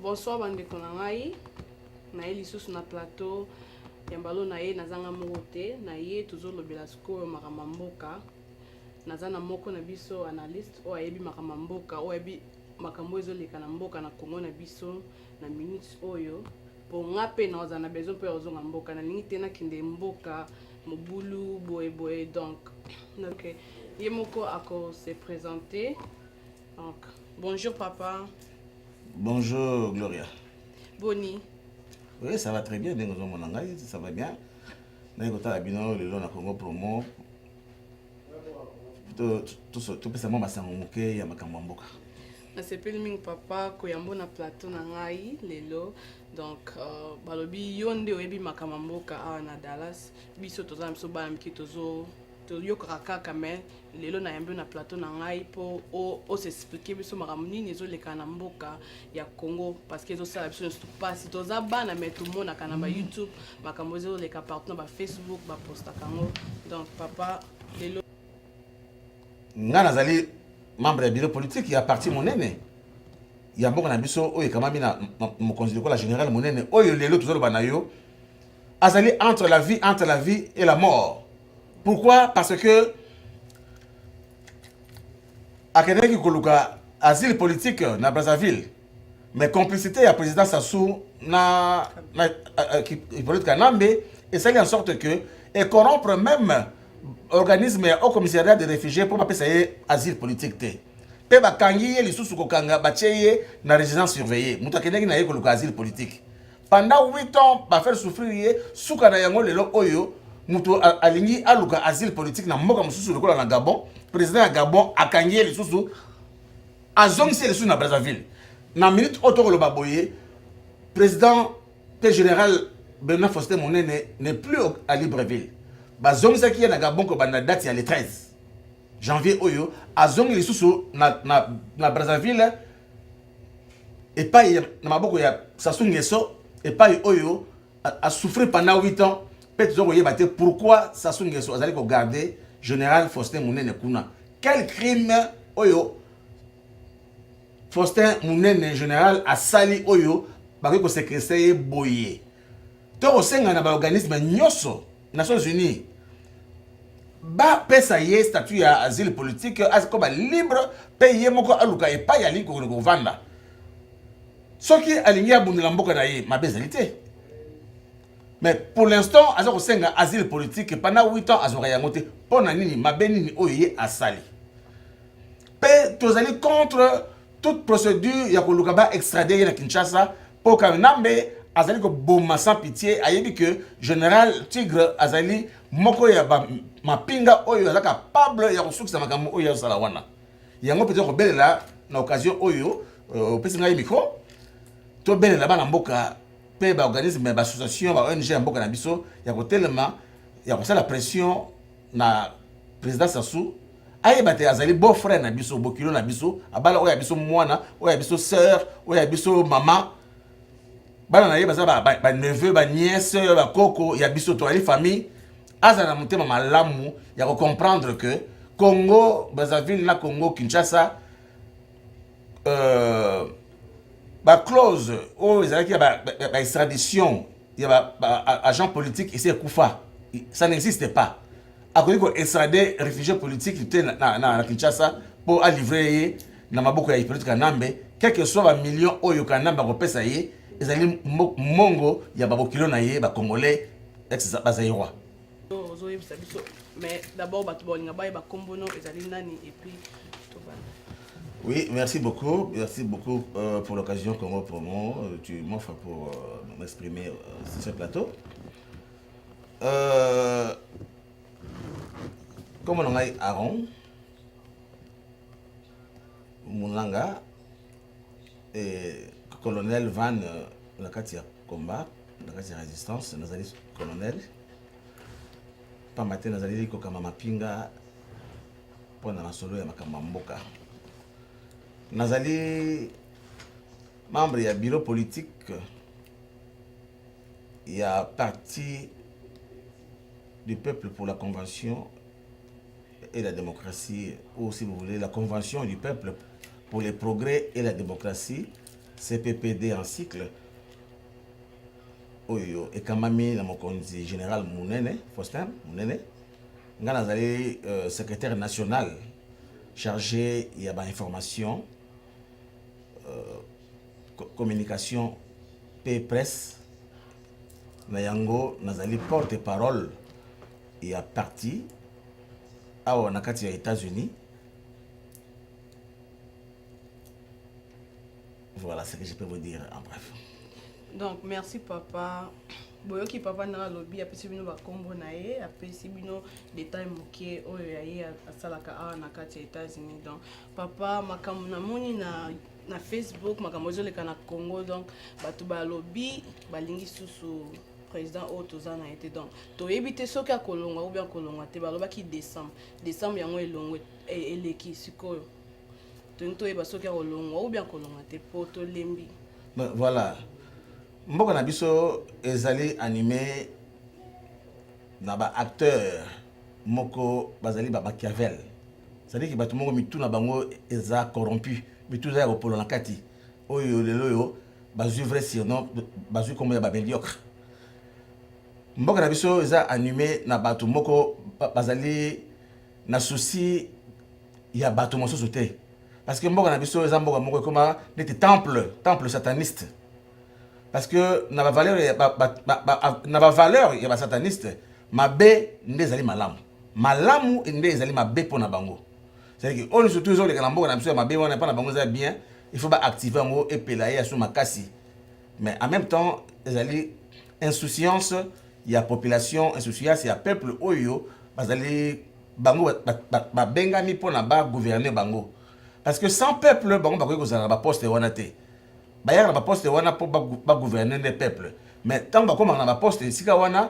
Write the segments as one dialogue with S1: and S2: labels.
S1: bonsoir bandeko na ngai naye lisusu na plateau ya mbalo na ye nazanga moko te na ye tozolobela sikoyo makambo ya mboka naza na moko na biso analyste oyo ayebi makambo ya mboka oyo ayebi makambo oyo ezoleka na mboka na kongo na biso na minute oyo mpo nga mpe naoza na besoin mpo ya kozonga mboka nalingi te nakende mboka mobulu boye boye donc okay. Ye moko ako se presenter. Donc, bonjour papa. Bonjour
S2: Gloria. Boni.
S1: Oui,
S2: ça va très bien. Ndenge ozomona ngai, ça va bien. Naye kotala bino lelo na Congo Promo. Topesa mwa masango moke ya makambo ya mboka. nasepeli
S1: mingi papa koyambo na plateau na ngai lelo donc euh, balobi yo nde oyebi makambo ya mboka awa na dallas biso toza na biso bana mike tozo toyokaka kaka me lelo nayambi yo na plateau na ngai mpo osexplike biso makambo nini ezoleka na mboka ya congo parce que ezosala biso nyonso mpasi toza bana me tomonaka na bayoutube mm. makambo ezoleka partout na bafacebook bapostaka yango donc papa lelo
S2: ngai nazali membre ya bureau politique ya parti monene ya mboka na biso oyo ekamami na mokonzi lokola général monene oyo lelo tozoloba na yo azali entre la vie entre la vie et la mort pourquoi parce que akendaki koluka asile politique na brazzaville mais complicité ya président sassou na, na euh, euh, hippolyte kanambe esali en sorte que ecorrompre même organisme ya haut commissariat de réfugié mpo bapesa ye asile politique te mpe bakangi ye lisusu kokanga batye ye na résidence surveillée moto akendaki na ye koluka asile politique pendant 8 ans ba faire souffrir ye suka na yango lelo oyo moto alingi aluka asile politique na mboka mosusu lokola na Gabon président ya Gabon akangi ye lisusu azongisi ye lisusu na Brazzaville na minute oyo tokoloba boye président mpe général Bernard Faustin Monene n'est plus à Libreville bazongisaki ye na Gabon kobanda date ya le 13 janvier oyo azongi lisusu na, na, na Brazzaville epai na maboko ya Sassou Nguesso epai oyo a souffrir pendant 8 ans pe tozo koyeba te pourquoi Sassou Nguesso azali ko garder général Faustin Munene kuna quel crime oyo Faustin Munene général asali oyo bakoki ko séquestrer ye boye to kosenga na baorganisme nyonso Nations Unies bapesa ye statut ya asile politique akoba libre mpe ye moko aluka epai alingi kokende kovanda soki alingi abundela mboka na ye mabe ezali te mais pour l'instant aza kosenga asile politique pendant 8 ans azwaka yango te mpo na nini mabe nini oyo ye asali mpe tozali contre toute procédure ya koluka ba extrader ye na Kinshasa mpo Kanambe azali koboma sans pitié ayebi que général Tigre azali moko ya ba mapinga oyo aza capable ya kosukisa makambo oyo azosala wana yango mpenza kobelela na occasion oyo euh, opesi ngai micro tobelela bana mboka mpe baorganisme ya baassociation ba ong ya mboka na biso ya kotelema ya kosala pression na president Sassou ayeba te azali beau frère na biso bokilo na biso abala oyo ya biso mwana oyo ya biso sœur oyo ya biso mama bana na ye baza baneveu ba, ba baniese bakoko ya biso toyali famille azala na motema malamu ya kocomprendre que congo brazzaville na congo kinshasa euh, baclause oyo ezalaki ya baextradition ya baagent ba, politique esi ekufa ça n'existe pas akoki koextrade réfugié politique te na, na, na, na kinshasa mpo alivre ye na maboko ya hippolyte kanambe quelque soit bamillion oyo kanambe akopesa ye ezali mongo ya babokilo na ye bacongolais bazairois ozoyebisa biso
S1: mais d'abord bato baolinga bayeba nkombo no ezali nani epuis
S2: tobanda Oui, merci beaucoup. Merci beaucoup euh, pour l'occasion Congo Promo. Euh, tu m'offres pour euh, m'exprimer euh, sur ce plateau. Euh, comme on a Aaron, Moulanga, eh, colonel van euh, na kati ya combat na kati ya résistance nazali colonel pamba te nazali kokamba mapinga mpo na masolo ya makambo ya mboka nazali membre ya bureau politique ya parti du peuple pour la convention et la démocratie, ou si vous voulez, la Convention du peuple pour les progrès et la démocratie, CPPD en cycle, oyo ekamami na mokonzi général Munene, Faustin Munene, nga nazali euh, secrétaire national chargé ya ba information euh, communication pe presse na yango nazali porte parole ya parti awa na kati ya États-Unis. Voilà ce que je peux vous dire en bref. Donc
S1: merci papa. boyoki papa na alobi apesi bino bakombo na ye apesi bino detail moke oyo ya ye asalaka awa na kati ya états-unis donc papa makambo namoni na na facebook makambo ezoleka na congo donc bato balobi balingi susu président oyo toza na ye te donc toyebi te soki akolongwa ou bien akolongwa te balobaki décembre décembre yango elongwe e, eleki sikoyo tolingi toyeba soki akolongwa ou bien akolongwa te mpo tolembi voilà
S2: mboka na biso ezali anime na baacteur moko bazali bamachiavel sadiki bato moko mitu na bango eza corrompu mitu eza ya kopolo na kati oyo lelo oyo bazui vrai surnom bazui kombo ya ba mediocre mboka na biso eza anime na bato moko bazali na souci ya bato mosusu te parce que mboka na biso eza mboka moko ekoma neti temple temple sataniste parce que na bavaleur na bavaleur ya basataniste mabe nde ezali malamu malamu nde ezali mabe mpo na bango C'est que on surtout zo leka na mboka na biso ya mabe wana pa na bango za bien, il faut ba activer yango et pela ya sous makasi. Mais en même temps, ezali insouciance ya population, insouciance ya peuple oyo bazali bango babengami mpo na bagouverner bango parce que sans peuple bango bakoki kozala na baposte wana te bayaka na baposte wana mpo bagouverner nde peuple mais ntango bakomaka na baposte esika wana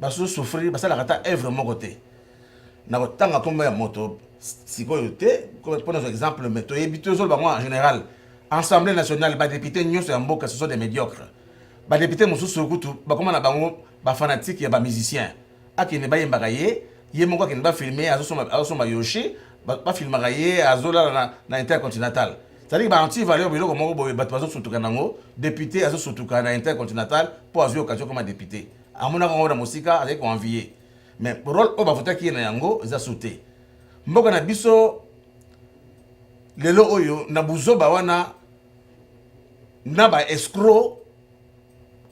S2: basusu souffrir basalaka ata œuvre moko te na kotanga nkombo ya moto sikoyo te mpo nazwa exemple mais toyebi tozoloba bango en général assemblée nationale badepute nyonso ya mboka ce sont des médiocres badepute mosusu kutu bakoma na bango bafanatike ya bamusicien akende bayembaka ye ye moko akende bafilme azosomba yoshi bafilmaka ye azolala na, na intercontinental cetadire baanti valeur biloko moko boye bato bazosutuka nango depute azosutuka na intercontinental mpo azwi okazio koma depute amonaka yango na mosika azali koenvie mais role oyo bavotaki ye na yango eza su te mboka na biso lelo oyo na buzoba wana na ba escro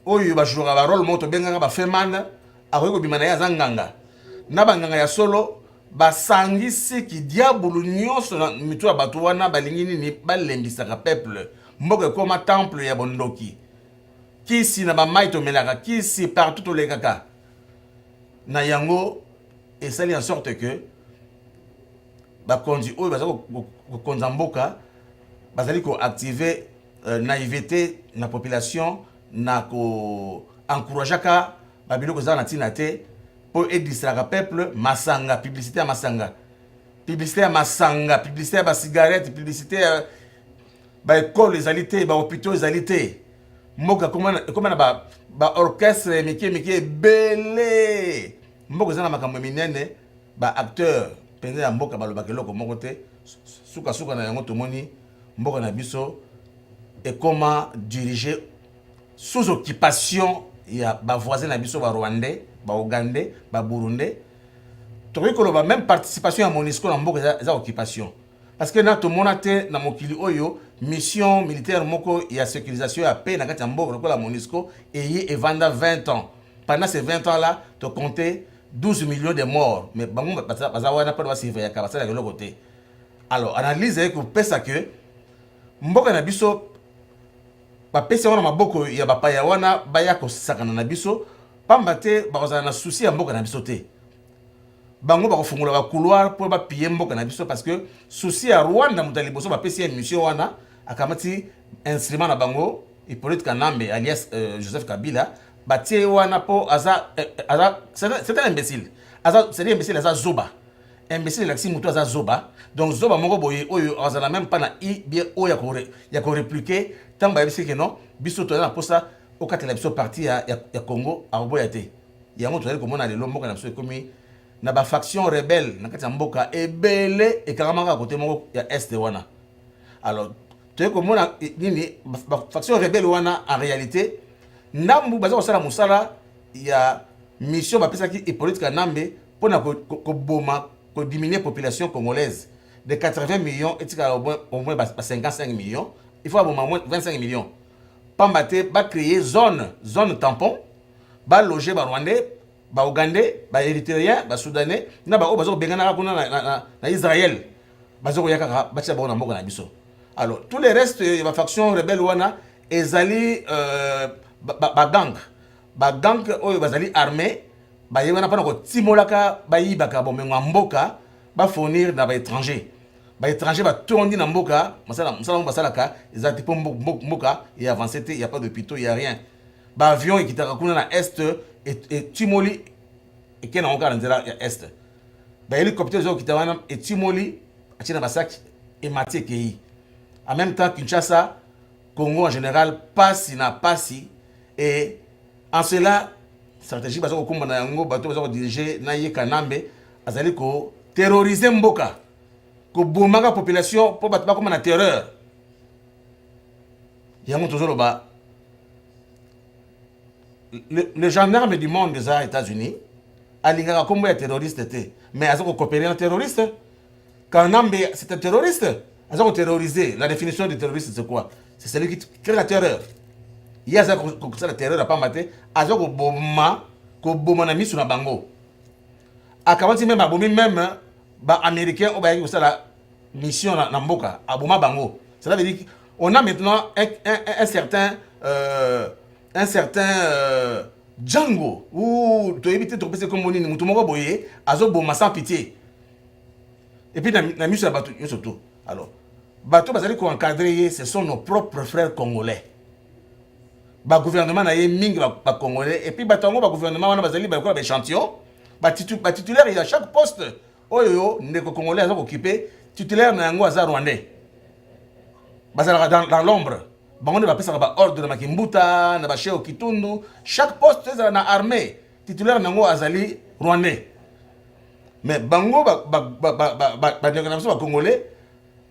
S2: oyo bajouaka barole moko tobengaka bafeman akoki kobima na ye aza nganga na banganga ya solo basangisi kidiabulu nyonso na mitu ya bato wana balingi nini balembisaka peuple mboka ekoma temple ya bondoki kisi na bamai tomelaka kisi partout tolekaka na yango esali en sorte que bakonzi oyo baza kokonza mboka bazali koactive euh, naïveté na population na koencourageaka babiloko ezala na ntina te mpo edistraka peuple masanga publicité ya masanga publicité ya masanga publicité ya bacigarette publicité ya ba ekole ezali te, ba hopitaux ezali te, mboka ekoma na ba, ba orchestre ya mike mike ebele, mboka eza na makambo ya minene, ba acteurs mpenza ya mboka balobaka eloko moko te, suka suka na yango tomoni mboka na biso ekoma dirige sous occupation ya bavoisin na biso barwandais baougandais baburundais tokoki koloba même participation ya monisco na mboka eza occupation parce que na tomona te na mokili oyo mission militaire moko ya sécurisation ya paix na kati ya mboka lokola monisco eye evanda 20 ans pendant ces 20 ans là to compte 12 millions de morts mais bango baza wana mpona basurveillaka basalaka eloko te alors analyse eye kopesa que mboka na biso bapesi yango na maboko ya bapaya wana baya kosakana na biso mpamba te bakozala na susi ya mboka na biso te bango bakofungola ba couloir mpo bapiye mboka na biso parce que souci ya rwanda moto ya liboso bapesi ye mission wana akamati instrument na bango hippolyte kanambe alias euh, joseph kabila batie ye wana mpo aza, euh, aza c'est un imbécile aza c'est imbécile aza zoba imbécile elakisi moto aza zoba donc zoba moko boye oyo azala même mpa na i bien oyo ya koreplike ntango bayebisi ke non biso toza na mposa okatela biso parti ya, ya, ya congo akoboya te Yango tozali komona lelo mboka na biso ekomi na ba faction rebelle na kati ya mboka ebele ekangamaka kote moko ya est wana alors toye komona nini faction rebelle wana en réalité ndambu baza kosala mosala ya mission bapesaki hippolyte kanambe mpo na koboma ko, ko kodiminue population congolaise de 80 millions etikala au moins ba 55 millions il faut aboma au moins 25 millions pamba te bacreye zone zone tampon ba loger ba rwandais ba ougandais ba erythréens ba soudanais na baoyo baza kobenganaka kuna na, na, na, na israel baza koya kaka batia bango na mboka na biso alors tous les restes ya bafaction rebelle wana ezali euh, bagang ba bagang ba oyo bazali armée baye wana mpona kotimolaka bayibaka bomengo ya mboka bafournir na baétranger baétranger batondi na mboka mosala mosala yango basalaka eza te mpo mboka ya avance te ya pas de pito ya rien ba avion ekitaka kuna na est etimoli eke nango kaka na nzela ya est ba hélicoptère ezo okita wana etimoli atie na basaki emati ekei en même temps kinshasa congo en général pasi na pasi e en cela stratégie baza kokumba na yango bato baza kodirige na ye kanambe azali koterrorize mboka kobomaka population mpo bato bakoma na terreur yango tozoloba le, le gendarme du monde eza états-unis alingaka nkombo ya terroriste te mais aza kokopere na terroriste kanambe c'est un terroriste aza koterroriser la définition du terroriste c'est quoi c'est celui qui crée la terreur ye aza kosala terreur apamba te aza koboma koboma na miso na bango akamati meme abomi meme baaméricain oyo bayaki kosala mission na, na mboka aboma bango cela veut dire on a maintenant un, un, un certain euh, un certain euh, django ou toyebi te tokopesa kombo nini moto moko boye azoboma sans pitié epuis na, na miso ya bato nyonso to alors bato bazali koencadre ye ce sont nos propres frères congolais bagouvernement na ye mingi bacongolais ba epuis bato yango bagouvernement wana bazali bakola baéchantillon batitulaire ya chaque poste oyo ndeko congolais aza kokipe titulaire na yango aza rwandais bazalaka dans, dans l'ombre bango nde bapesaka baordre na makimbuta na basheo kitundu chaque poste ezala na armée titulaire na yango azali rwandais mais bango bandeko na biso bacongolais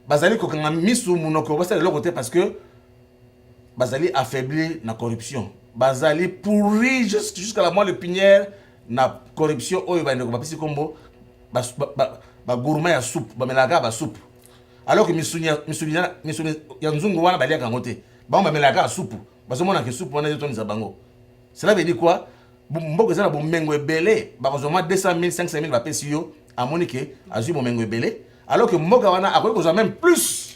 S2: bazali kokanga misu monoko basala eloko te parce que bazali affaiblir na corruption bazali pourri jusqu'à la moelle pinière na corruption oyo bandeko bapesi nkombo bagourma ya soupe bamelaka kaka basupu alors que misuni ya nzungu wana baliaka yango te bango bamelaka kaka supu bazomona ke supu wana ezotondisa bango cela veut dire quoi mboka eza na bomengo ebele bakozwa mwa 200 000 500 000 bapesi yo amoni ke azwi bomengo ebele alors que mboka wana akoki kozwa même plus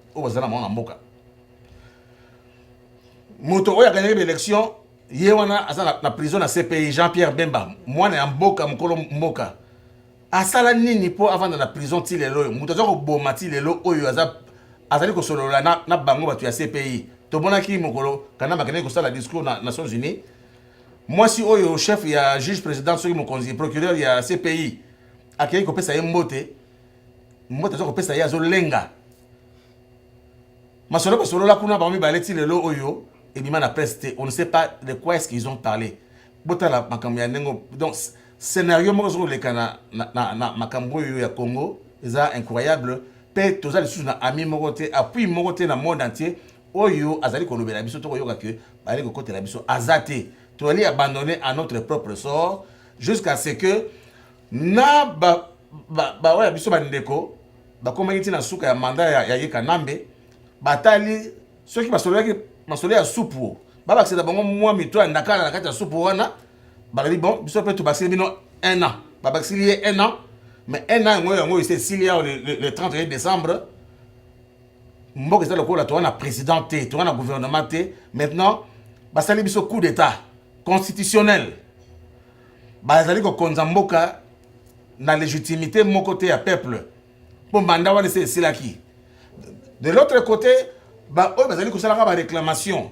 S2: oyo bazala na bango na mboka moto oyo aganyaki baélection ye wana aza na, na prison na cpi jean pierre bemba mwana ya mboka mokolo mboka asala nini mpo avanda na prison ti lelo oyo moto aza koboma ti lelo oyo aza azali kosolola na, na bango bato ya cpi tomonaki mokolo kanama akendaki kosala discours na nations unies mwasi oyo chef ya juge président soki mokonzi procureur ya cpi akei kopesa ye mbote mbote aza kopesa ye azolenga masolo basolola kuna bango mibale ti lelo oyo ebima na presse te on ne sait pas de quoi est-ce qu'ils ont parlé botala makambo ya ndenge donc scénario moko ezo koleka na, na, na, na makambo oyo ya congo eza incroyable mpe toza lisusu na ami moko te appui moko te na monde entier oyo azali kolobela biso to koyoka ke bazali kokotela biso aza te toyali abandonne à notre propre sort jusqu'à ce que na ba, ba, ba oya biso bandeko bakomaki ti na suka ya manda ya, ya ye kanambe batali soki basololaki masolo ya supu babakisa na bango mwa mito ya ndakala na kati ya supu wana balobi bon biso mpe tobakiseli bino un an babakiseli ye un an mais un an yango yango ese esili yao le, le, le 31 décembre mboka eza lokola toza na président te toza na gouvernement te maintenant basali biso coup d'état constitutionnel bazali kokonza mboka na legitimité moko te ya peuple mpo manda wana esi esilaki de l'autre côté baoyo bazali kosalaka baréclamation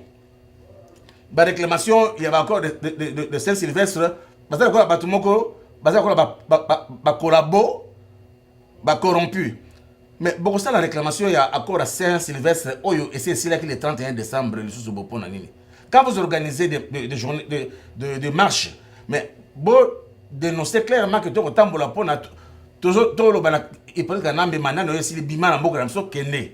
S2: baréclamation ya baaccord de, de, de, de, de saint sylvestre baza lokola bato moko baza lokola bakolabo ba, ba, ba, ba ba corrompu mais bokosala réclamation ya accord ya saint sylvestre oyo esi esilaki le 31 décembre lisusu bo mpo na nini quand vous organisez des de, de, journée, de, de, de marche mais bo dénoncer clairement que tokotambola mpo na toloba na hypolite kanambe manani oyo esili bima na mboka na biso kende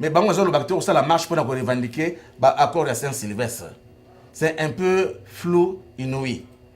S2: mais bango ezolobaka te kosala marche mpo na korevendiquer baaccord ya saint sylvestre c'est un peu flou inouï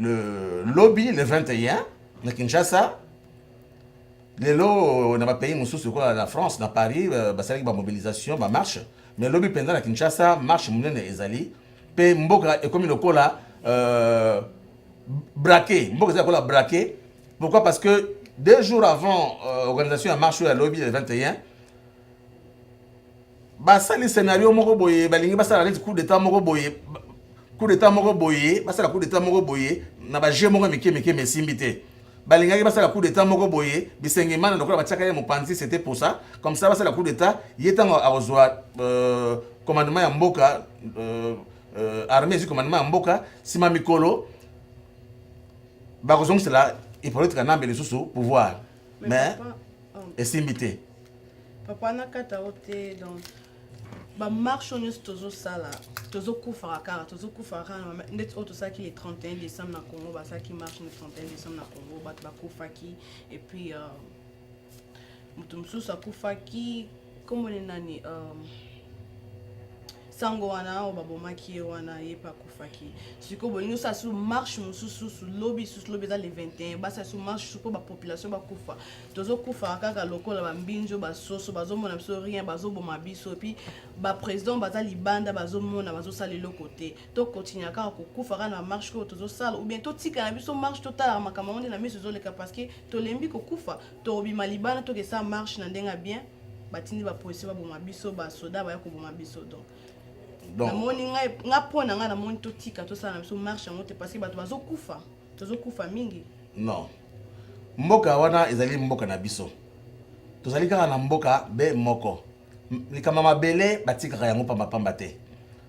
S2: le lobi le 21 na Kinshasa lelo na ba pays mosusu lokola na France na Paris euh, basalaki ba mobilisation ba marche mais lobi mpenza na Kinshasa marche monene ezali mpe mboka ekomi lokola euh, braqué mboka ezali lokola braqué pourquoi parce que deux jours avant euh, organisation ya marche oyo ya lobi le 21 basali scenario moko boye balingi basala neti coup d'etat moko boye coup d'etat moko boye basala coup d'etat moko boye na ba jeu moko mike mike mais esimbi te balingaki basala coup d'etat moko boye bisengimana lokola batiaka ye mopanzi c'était pour ça comme ça basala coup d'etat ye ntango akozwa euh, commandement ya mboka euh, euh, armée ezwi commandement ya mboka nsima mikolo bakozongisela hypolite kanambe lisusu pouvoir mais oh. esimbi te papa
S1: nakata yo te donc bamarche oyo nyonso tozosala tozokufaka kaka tozokufaka kaka na ndeti oyo tosalaki le 31 décembre na congo basalaki marche le 31 décembre na congo bato bakufaki epuis euh, moto mosusu akufaki Kombo ne nani? Um... sango wana oyo babomaki ye wana ye mpe akufaki sikoyo bolingi osala susu marche mosusu susu lobi susu lobi eza le 21 basala susu marche susu mpo bapopulation bakufa tozokufaka kaka lokola bambinzi oyo basoso bazomona biso rien bazoboma biso epuis baprésident baza libanda bazomona bazosala eloko te tokontinua kaka kokufa kaka na marche oyo tozosala ou bien totika na biso marche totalaka makambo yango nde na miso ezoleka parce que tolembi kokufa Tokobima libanda tokesa marche na ndenge ya bien batindi ba policier baboma biso ba soda baya koboma biso donc namoni ngai nga mpo na ngai namoni totika tosala na biso marche yango te parce que bato bazokufa tozokufa mingi non mboka
S2: wana ezali mboka na biso tozali kaka na mboka be moko likambo ya mabele batikaka yango pambapamba te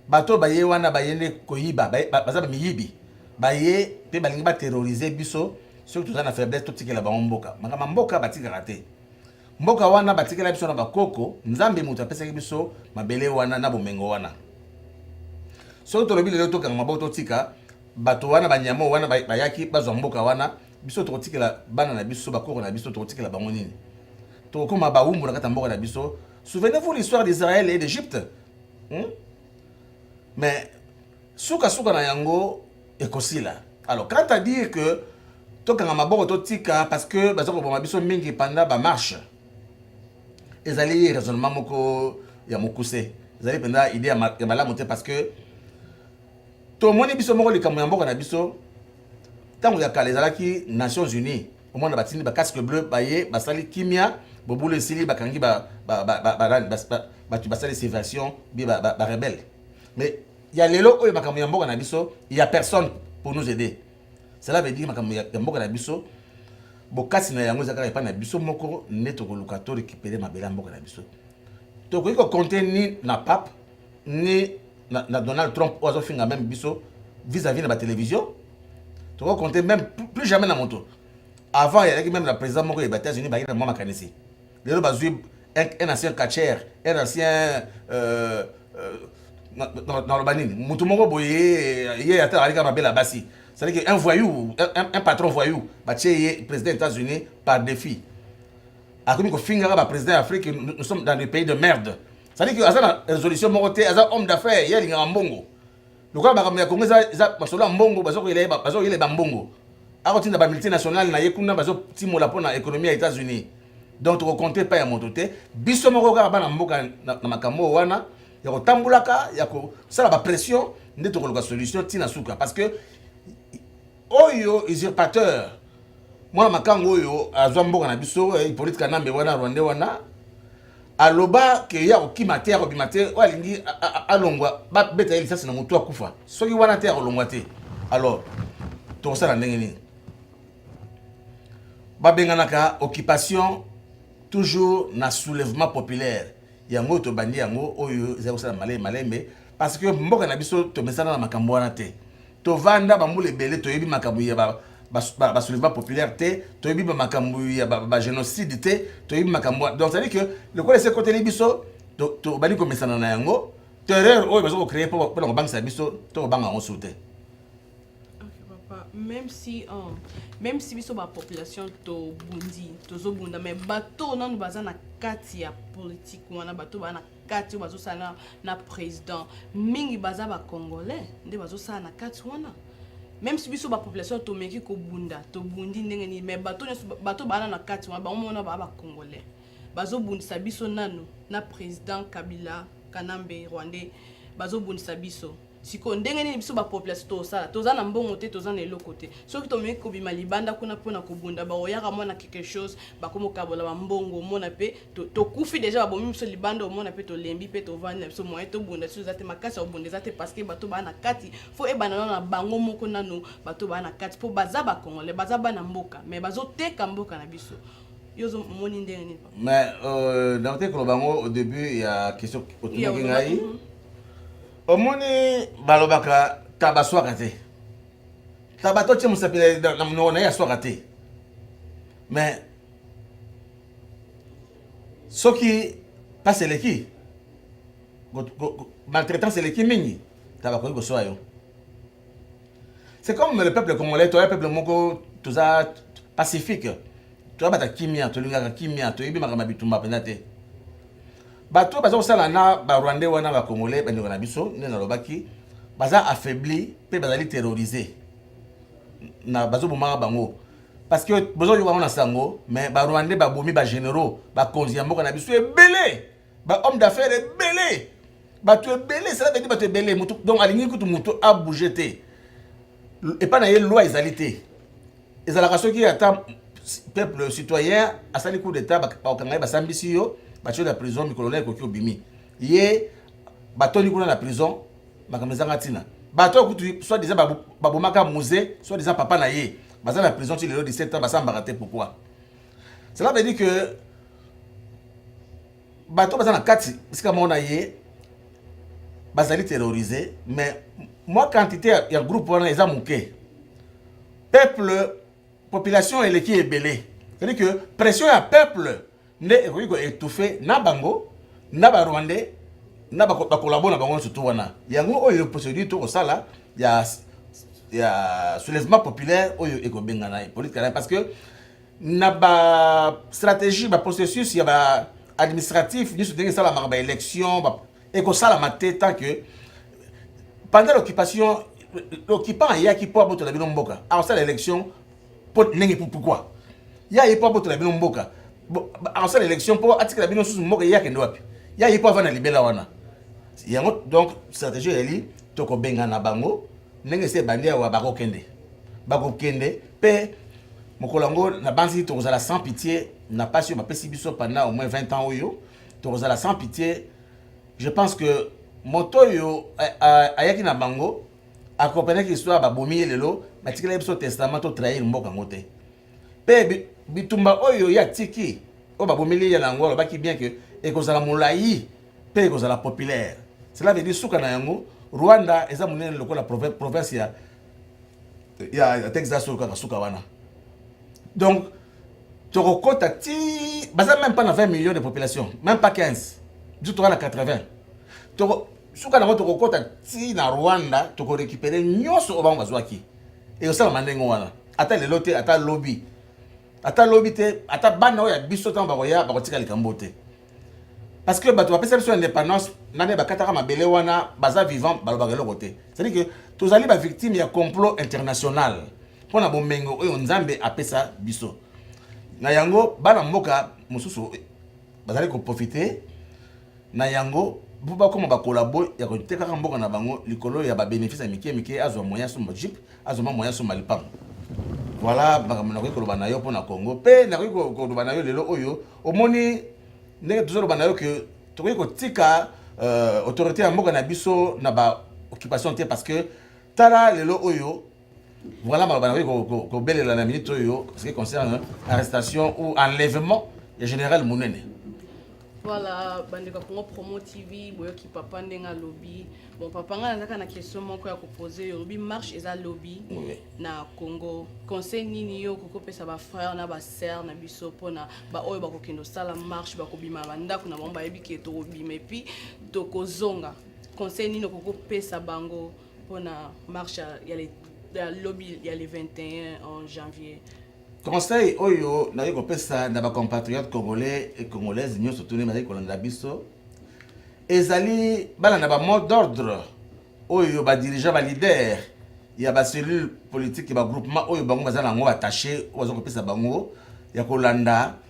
S2: bato oyo baye wana baye nde koyiba baye- ba- baza bamiyibi baye mpe balingi baterrorize biso soki toza na faiblesse totikela bango mboka makambo ya mboka batikaka te mboka wana batikela biso na bakoko nzambe moto apesaki biso mabele wana na bomengo wana soki tolobi lelo tokanga maboko totika bato wana banyama oyo wana bay- bayaki bazwa mboka wana biso tokotikela bana na biso bakoko na biso tokotikela bango nini tokokoma bawumbu na kati ya mboka na biso souvenez-vous l'histoire d'israël et d'égypte hmm? mais sukasuka na yango ekosila alors quant à dire que tokanga maboko totika parce que baza koboma biso mingi panda bamarche ezali raisonnement moko ya mokuse ezali mpenza idée ya malamu te parce que tomoni biso moko likambo ya mboka na biso ntango ya kala ezalaki nations unies omwana batindi bacasque bleu baye basali kimia bobulu esili bakangi bato basali sévation bie barebelle mais ya lelo oyo makambo ya mboka na biso ya personne pour nous aider cela veut dire makambo ya mboka na biso bokasi na yango eza kaka epai na biso moko nde tokoluka to récupere mabele ya mboka na biso tokoki kokonte ni na pape ni na, na Donald Trump oyo azofinga meme biso vis-à-vis na batelevision toko compte même plus jamais na moto avant eyalaki meme na président moko ya baétats-unis bayaki na mwa makanisi lelo bazwi un ancien catcher un ancien euh, euh, naloba nini motu moko boye ye ata alika mabela basi c'est-à-dire un voyou un, un patron voyou batie ye président ya états-unis par défi akomi kofingaka baprésident ya afrique nous sommes dans des pays de merde cest que aza na résolution moko te aza homme d'affaires ye alingaka mbongo lokola makambo ya kongo eza masolo ya mbongo bazokoyela ye bazokoyela ye bambongo akotinda bamultinationale na ye kuna bazotimola mpo na économie ya états-unis donc tokokonte epai ya moto te biso moko kaka bana mboka na makambo oyo wana ya kotambolaka ya kosala bapression nde tokoluka solution ntina suka parce que oyo usurpateur mwana makango oyo azwa mboka na biso eh, ipolite kanambe wana rwande wana aloba ke ye akokima te akobima te oyo alingi alongwa babeta ye lisasi na motu akufa soki wana te akolongwa te alors tokosala ndenge nini babenganaka occupation toujours na soulèvement populaire yango oyo tobandi yango oyo ezali kosala malembe malembe parce que mboka na biso tomesana na makambo wana te tovanda bambula ebele toyebi makambo ya basoulèvement populaire te toyebi makambo ya bagénocide te toyebi makambo donc cetadi que lokola esi ekoteli biso tobandi komesana na yango terreur oyo baza kocreye mpona kobangisa biso to kobanga yango su te même
S1: si um, même si biso bapopulation tobundi tozobunda mais bato nanu baza na kati ya politike wana bato baa na kati bazosala na président mingi baza ba congolais nde bazosala na kati wana même si biso bapopulation tomeki kobunda tobundi ndenge nini mais bato nyonso bato baana na kati wana bango mona baa bacongolais bazobundisa biso nano na président kabila kanambe rwandais bazobundisa biso sikoyo ndenge nini biso bapopulation tosala toza na mbongo te toza na eloko te soki tomeki kobima libanda kuna mpona kobunda baoyaka mwana quelque chose bakomokabola bambongo omona mpe tokufi deja babomi biso libanda omona mpe tolembi mpe tovandi na biso moye tobunda biso eza te makasi ya kobunda eza te parce que bato baa na kati fo ebanda nano na bango moko nano bato baa na kati mpo baza bacongolais baza bana mboka mais bazoteka mboka na biso yo omoni ndenge nini mais euh,
S2: nakote koloba yango au début ya question otunaki ngai mm -hmm. omoni balobaka taba swaka te taba to tie mosapi na monoko na ye aswaka te mais soki mpasi eleki maltraitance eleki mingi taba akoki koswa yo C'est comme le peuple congolais, toi, peuple moko, tout ça, pacifique. Toi, bata kimia, tu lingaka kimia, tu yebi makama bitumba penda te. Bato baza kosala na ba Rwandais wana ba Congolais ba ndeko na biso, nde nalobaki, baza affaibli pe bazali terroriser. Na bazo bomaka bango. Parce que bozo yoka na sango, mais ba Rwandais ba bomi ba généraux, ba konzi ya mboka na biso ebele. ba homme d'affaires ebele bato ebele esalaka ete bato ebele motu donc alingi kutu motu abouge te epai na ye loi ezali te ezalaka soki ata peuple citoyen asali coup d'état bakokanga ye basambisi yo batio na prison mikolo na ekoki obimi ye batoni kuna na prison makambo ezanga ntina bato oyo kutu soit disant babomaka musée soit disant papa na ye baza na prison ti lelo 17 ans basambaka te pourquoi Cela veut dire que bato baza na kati esika moko na ye bazali terrorise mais mwa quantité ya groupe wana eza moke peuple population eleki ebele cest que pression ya peuple nde ekoki koetouffe na bango na barwandais na bakolabo na bango nyonso to wana yango oyo procédure tokosala ya ya soulèvement populaire oyo ekobengana politike parce que na ba stratégie ba processus ya ba administratif nyonso ndenge esalamaka ba élection ekosalama te tant que pendant l'occupation l'occupant ayaki mpo abotola bino mboka akosala élection mpo ndenge pourquoi ye aye mpo abotola bino mboka akosala élection mpo atikela bino susu mboka ye akende wapi ye aye mpo avanda libela wana yango donc stratégie eyeli tokobengana bango ndenge ese ebandi awa bakokende bakokende mpe mokolo yango nabanzi tokozala sans pitié na mpasi oyo bapesi biso pendant au moins 20 ans oyo tokozala sans pitié je pense que moto oyo eh, eh, ayaki na bango akomprenaki histoire babomi ye lelo batikelaki biso testament to trahir mboka yango te mpe bitumba oyo ye atiki oyo babomeli ye na yango alobaki bien ke ekozala molai mpe ekozala populaire cela veut dire suka na yango rwanda eza monene lokola province ya ya texas oyo kaka suka wana donc tokokota ti baza même pas na 20 millions de population même pas 15 biso toza na 80 toko suka nango tokokota ti na rwanda tokorekipere nyonso oyo bango bazwaki ekosalama ndenge wana ata lelo te ata lobi ata lobi te ata bana oyo ya biso ntango bakoya bakotika likambo te parce que bato bapesa biso indépendance nani bakataka mabele wana baza vivant balobaka eloko te cetadi que tozali bavictime ya complot international mpo na bomengo oyo nzambe apesa biso na yango bana mboka mosusu bazali koprofite na yango mpo bakoma bakolabo ya kotekaka mboka na bango likolo ya babenefice ya mike mike azwa moyen asomba jipe azo mwa moyen asomba lipango voilà makambo nakoki koloba na yo mpo na congo mpe nakoki koloba na yo lelo oyo omoni ndenge tozoloba na yo ke tokoki kotika euh, autorité ya mboka na biso na ba occupation te parce que tala lelo oyo voilà maloba nakoki kobelela na minute oyo ce qui concerne arrestation ou enlèvement ya général monene Voilà,
S1: bandeko Congo Promo TV, boyoki papa ndenge alobi. Bon papa nga nazaka na question moko ya koposer yo. Lobi marche eza lobby oui. na Congo. Conseil nini yo kokopesa ba frères na ba sœurs na biso pona ba oyo bakokendo sala marche bakobima ba ndako na bango bayebi ke tokobima et puis tokozonga. Conseil nini okokopesa bango pona marche ya le ya lobby ya le 21 en janvier Conseil
S2: oyo naye kopesa na ba compatriotes congolais et congolaises nyonso tuni bazali kolanda biso ezali balanda ba mot d'ordre oyo ba dirigeants ba leader ya ba cellule politique ba groupement oyo bango baza na yango attaché oyo baza kopesa bango ya kolanda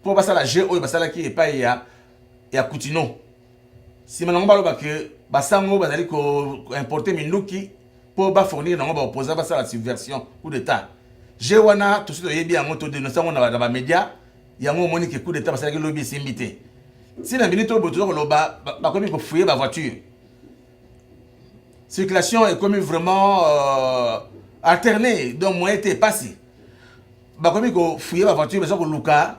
S2: mpo basala jeu oyo basalaki epai ya, ya Kutino. Nsima nango baloba ke basango bazali koimporte minduki mpo bafournir nango baopposant basala subversion coup d'etat. Jeu wana tosi toyebi yango todenonse yango na bamedia, yango omoni ke coup d'etat basalaki lobi esimbi te. Ntina minute oyo boye toza koloba bakomi kofuye bavoiture circulation ekomi vraiment euh, alterne donc moyen te epasi bakomi kofuye bavoiture baza koluka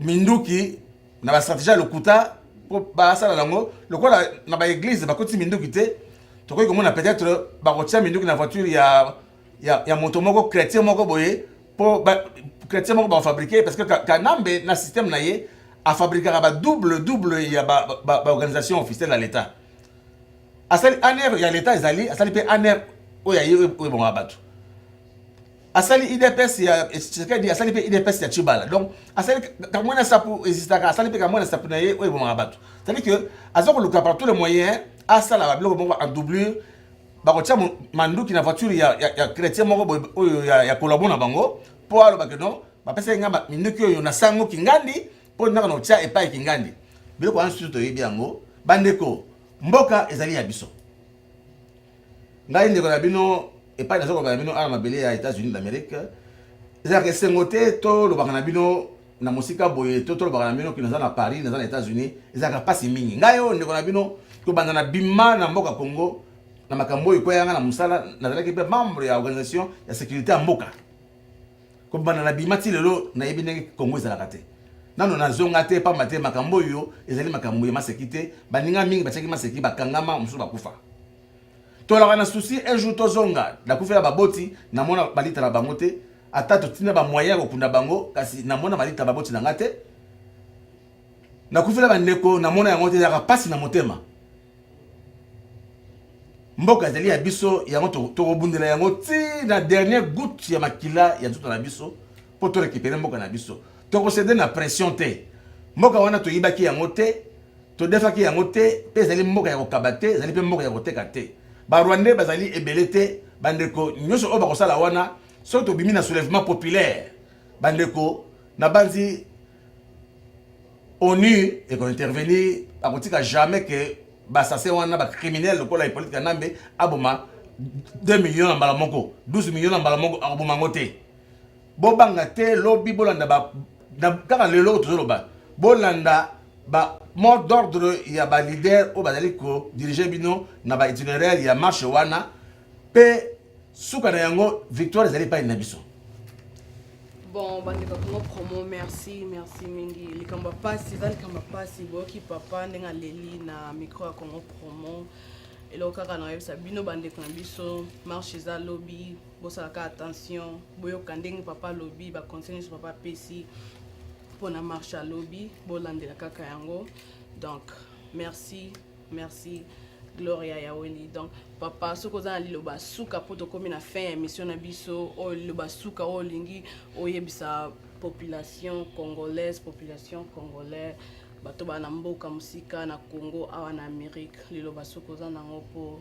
S2: minduki na bastratégie ya lokuta mpo basala yango lokola na baeglize bakoti minduki te tokoki komona peut-être bakotia minduki na voiture ya ya, ya moto moko chrétien moko boye po ba, chrétien moko bafabrike parce que kanambe na système na ye afabrikaka ba double double ya baorganisation ba, ba officielle ya l'état asali aner ya l'état ezali asali mpe aner oyo aye oyo ebongaka bato asali idps ya tshisekedi asali mpe idps ya chibala donc asali kamwena sapu existaka asali mpe kamwena sapu na ye oyo ebomaka bato cetadi que aza koluka par tous les moyens asala babiloko moko en doublure bakotia manduki na voiture ya, ya, ya chrétien moko boye oyo ya, ya kolabo na bango mpo alobake no bapesaki ngai minduki oyo na sango kingandi mpo ndaka na otia epai kingandi biloko wana susu toyebi yango bandeko mboka ezali ya biso ngai ndeko na bino epai nazokoba na bino awa mabele ya états-unis d'amérique ezalaka esengo te tolobaka na bino na mosika boye to tolobaka na bino kino naza na Paris naza na Etats-Unis ezalaka mpasi mingi ngai oyo ndeko na bino tobanda na bima na mboka Congo na makambo oyo ekwaya ngai na mosala nazalaki mpe membre ya organisation ya sécurité ya mboka kobanda na bima ti lelo nayebi ndenge Congo ezalaka te nano nazonga te pamba te makambo oyo ezali makambo ya maseki te baninga mingi batiaki maseki bakangama mosusu bakufa tolaka na souci un jour tozonga nakufela baboti namona balita na bango te ata totina bamoyen ya kokunda bango kasi namona balita baboti na nga te nakufela bandeko namona yango te yaka mpasi na motema mboka ezali ya biso yango tokobundela yango ti na dernier gout ya makila ya nzoto na biso mpo torekipere mboka na biso tokosede na pression te mboka wana toyibaki yango te todefaki yango te mpe ezali mboka ya kokaba te ezali mpe mboka ya koteka te barwandais bazali ebele te bandeko nyonso oyo bakosala wana soki tobimi na soulèvement populaire bandeko nabanzi onu ekointervenir akotika jamais ke basasin wana bacriminel lokola hippolite kanambe aboma 2 million na mbala moko 12 million na mbala moko akoboma yango te bobanga te lobi bolanda ba kaka lelo oyo tozoloba bolanda ba mot d'ordre ya ba leader oyo bazali kodirige bino na ba itineraire ya marche wana mpe suka na yango victoire ezali epai na biso
S1: bon bandeko kongo promo merci merci mingi likambo ya mpasi eza likambo ya mpasi boyoki papa ndenge aleli na micro ya kongo promo eloko kaka na koyebisa bino bandeko na biso marche eza lobi bosalaka attention boyoka ndenge papa alobi baconseil nyonso papa apesi mpona marche ya lobi bolandela kaka yango donc merci merci gloria ya weli donc papa soki oza na liloba suka mpo tokomi na fin ya émission na biso oyo liloba suka oyo olingi oyebisa population congolaise population congolais bato bana mboka mosika na congo awa na amérique liloba soki oza nango mpo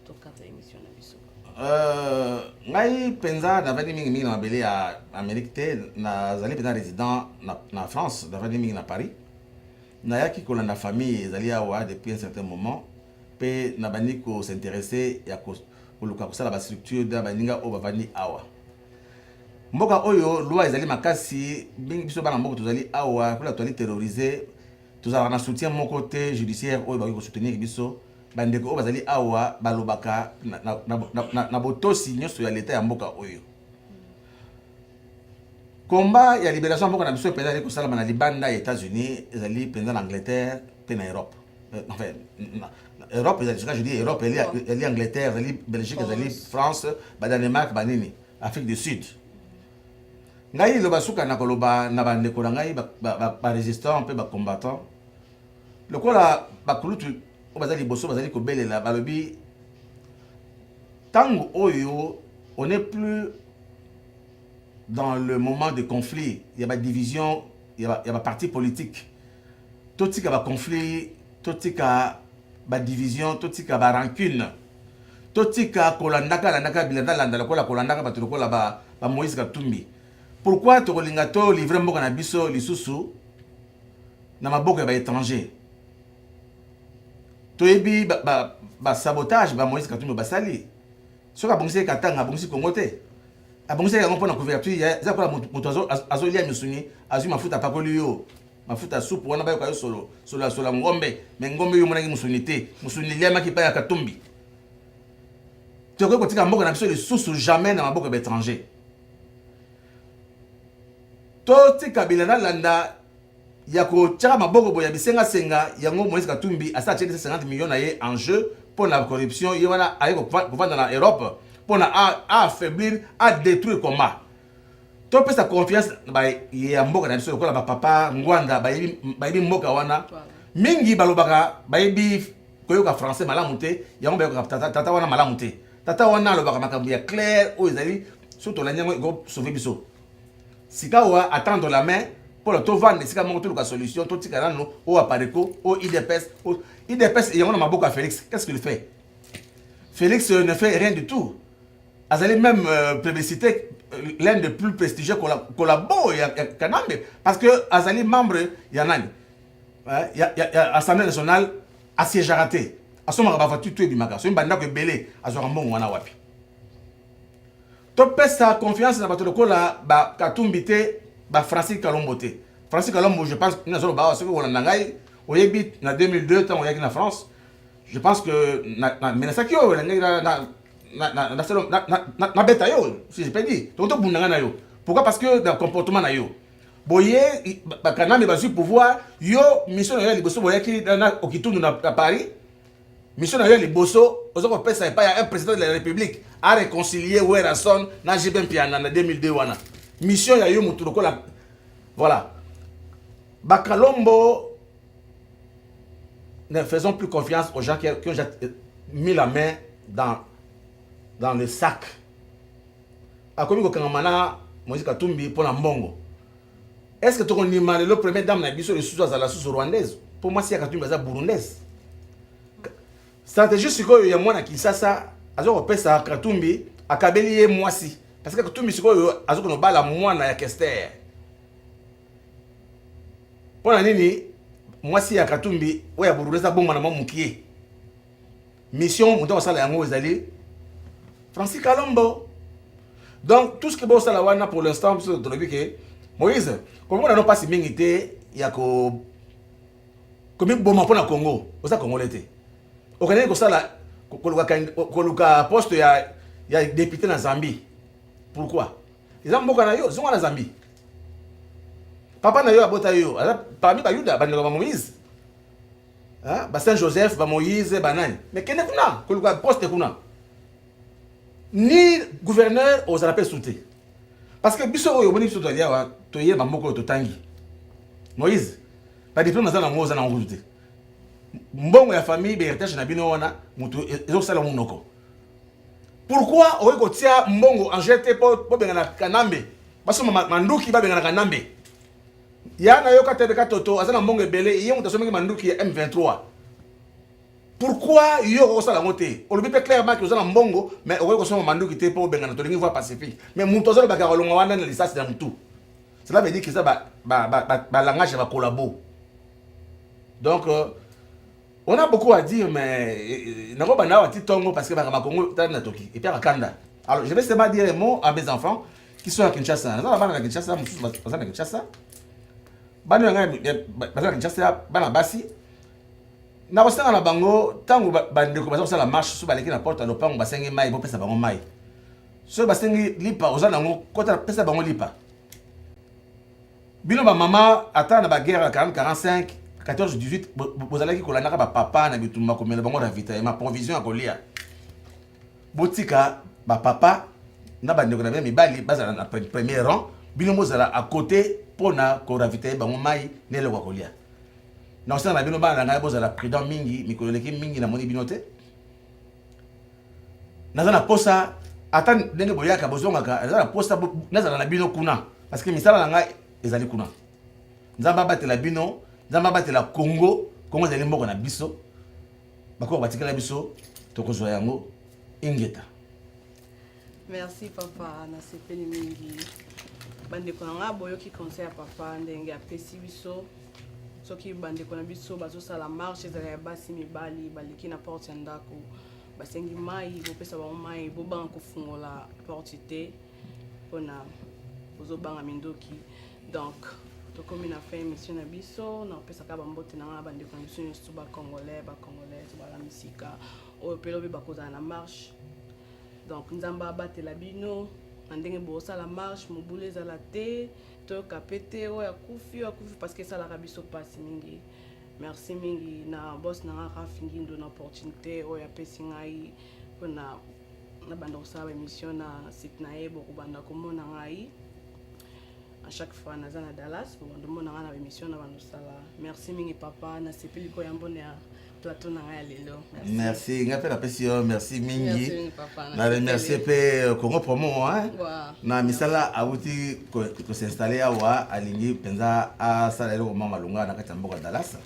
S1: tokata emission na biso euh,
S2: ngai mpenza navandi mingimingi na mabele ya amérique te nazali mpenza résident na, na france navandi mingi na paris nayaki kolanda famille ezali awa depuis un certain moment mpe nabandi kosinteresse ya koluka kosala bastructure na baninga oyo bavandi awa mboka oyo loi ezali makasi mingi biso bana mboka tozali awa kuna tozali terrorise Tozalaka na soutien moko te judiciaire oyo bakoki ko soutenir biso. Bandeko oyo bazali awa balobaka na, na, na, na, na, na botosi nyonso ya leta ya mboka oyo. Komba ya liberation ya mboka na biso mpenza ezali kosalama na libanda ya Etats-Unis, ezali mpenza na Angleterre mpe na Europe. Euh, enfin, na, na Europe ezali soka je dis Europe ezali ezali Angleterre, ezali Belgique, ezali France, ba Danemark, ba nini, Afrique du Sud. Ngai liloba suka na koloba na bandeko na ngai baresistant mpe bacombattant lokola bakulutu oyo bazali liboso bazali kobelela balobi ntango oyo on n'est plus dans le moment de conflit ya badivision ya baparti politique totika baconflit totika badivision totika barancune totika kolandaka landaka bilanda landa lokola kolandaka bato lokola ba, ba Moïse Katumbi pourquoi tokolinga to livre mboka na biso lisusu na maboko ya baétranger toyebi basabotage ba, ba, ba Moïse Katumbi basali soki abongisi ye Katanga abongisi Congo te abongisaki yango mpo na couverture eza kola moto azolia misuni azwi mafuta apakoli yo Mafuta supu wana bayoka yo solo solo ya sola ngombe me ngombe yo omonaki musuni te musuni eliamaki epai ya katumbi tokoki kotika mboka na biso lisusu jamais na maboko ya baétranger totika bila nalanda ya kotyaka maboko boye ya bisengasenga yango moïse katumbi asala atyeli 50 million na ye en jeu mpo na corruption ye wana aye kovanda na europe mpo na aaffaiblir adétruire combat topesa confiance na baye ya mboka na biso lokola bapapa ngwanda bayebi mboka wana mingi balobaka bayebi koyoka français malamu te yango bayokaka tata wana malamu te tata wana alobaka makambo ya claire oyo ezali so tolandi yango ekosauve biso sikawa attendre la main mpona tovanda esika moko toluka solution totika nano oyo apareco oyo idps idps yango na maboko ya félix qu'est ce qu'il fait félix ne fait rien du tout azali même euh, publicité euh, l'un des plus prestigieux collabo ya kanambe parce que azali membre ya nani ya, ya, ya assemblée nationale asiégeaka te asomaka bavoiture to ebimaka soki bandako ebele azwaka mbongo wana wapi topesa confiance na bato lokola bakatumbi te bafrancis kalombo te francis kalombo je pense nazoloba awa soki olanda ngai oyebi na 2002 ntango oyaki na france je pense que namenasaki yo nalingaki nabeta yo si je peux dire donc tobunda ngai na yo pourquoi parce que na comportement na yo boye bakanambe bazwi pouvoir yo mission na yo ya liboso boyaki na okitundu na paris mission na yo ya liboso oza kopesa epai ya un président de la république a réconcilie werrason na jb mpiana na 2002 wana mission ya yo motu lokola voilà bakalombo ne faisons plus confiance aux gens qui, qui ont déjà euh, mis la main dans, dans le sac akomi kokangama na moïse katumbi mpo na mbongo est ce que tokondima lelo première dame na biso lisusu azala susu rwandaise mpo mwasi ya katumbi aza burundaise stratégie sikoyo ya mwana kinsasa aza kopesa katumbi akabeli ye mwasi parce que katumbi sikoyo azokona obala mwana ya kester mpo na nini mwasi ya katumbi oyo ya burundais abonga na mwa mokie mission moto akosala yango ezali francis kalombo donc tout ce que bosala wana pour l'instant biso tolobi ke moïse komona no mpasi mingi te ya ko komiboma mpo na congo oza congolais te okendeki kosala koluka poste ya, ya depute na zambie pourquoi Eza mboka na yo, zonga na Zambie. Papa na yo abota yo, aza parmi Bayuda, bandeko ba Moïse. Hein? Ba Saint Joseph, ba Moïse, ba nani. Mais kende kuna, koluka poste kuna. Ni gouverneur aux appels sautés. Parce que biso oyo boni biso to alia wa, to yé ba moko to tangi. Moïse, ba diplôme za na ngo za na ngo te. Mbongo ya famille, ba héritage na bino wana, mutu ezo sala munoko. Pourquoi oye kotia mbongo en jeu te po bobengana Kanambe basomba ma- manduki babengana Kanambe ya na yoka tebe katoto aza na mbongo ebele ye moto asombaki manduki ya M23 pourquoi yo okoki kosala yango te olobi mpe clairement ke oza na mbongo mais okoki kosomba manduki te mpo obengana tolingi voi pacifique mais moto azolobaka ya kolonga wana na lisasi na motu cela veut dire que eza balangage ya bakolabo donc euh, On a beaucoup à dire, mais euh, nako banda wa titongo parce que baka bakongo tala na toki et puis akanda. Alors je vais seulement dire un mot à mes enfants qui sont à Kinshasa. Naza na bana na Kinshasa, mususu baza na Kinshasa. Bana yanga baza na Kinshasa, bana basi. Na kosanga na bango tango bandeko baza kosala marche sous baleki na porte ya lopango basengi mai bopesa bango mai. Soki basengi lipa oza nango kota pesa bango lipa. bino ba mama ata na ba guerre ya 40 45 14 18 bozalaki kolandaka ba papa na bitumba komela bango ravitaillement provision ya kolia botika ba papa na bandeko na bino mibali bazala na premier rang bino bozala à côté mpo na koravitaille bango mai na eloko ya kolia na kosala na bino bana na ngai bozala prudent mingi mikolo eleki mingi namoni bino te naza na posa ata ndenge boyaka bozongaka naza na posa nazala na bino kuna parce que misala na ngai ezali kuna nzambe abatela bino nzambe abatela congo congo ezali mboka na biso bakoko batikala biso tokozwa yango ingeta
S1: Merci papa, nasepeli mingi. Bandeko na ngai boyoki conseil ya papa ndenge apesi biso soki bandeko na biso bazosala marche ezala ya basi mibali baleki na porte ya ndako basengi mai bopesa bango mai bobanga kofungola porte te mpona bozobanga mindoki donc tokomi na fin émission na biso na kopesaka bambote na ngai na bandeko na biso nyonso bacongolais bacongolaise bala misika oyo mpe lobi bakozala na marche donc nzambe abatela bino na ndenge bosala marche mobulu ezala te toyoka mpe te oyo akufi oyo akufi parce que esalaka biso mpasi mingi merci mingi na bos na nga raf ngindo na opportunité oyo apesi ngai mpona nabanda kosala baémission na site na ye bokobanda komona ngai à chaque fois naza na dallas bokobanda komona ngai na baémission na bandosala merci mingi papa nasepeli koyambo na plateau na ngai ya lelo merci ngai mpe
S2: napesi yo merci mingi na remercie mpe euh, congo promo na misala awuti kosinstalle awa alingi mpenza asala eloko mwa malonga na kati ya mboka dallas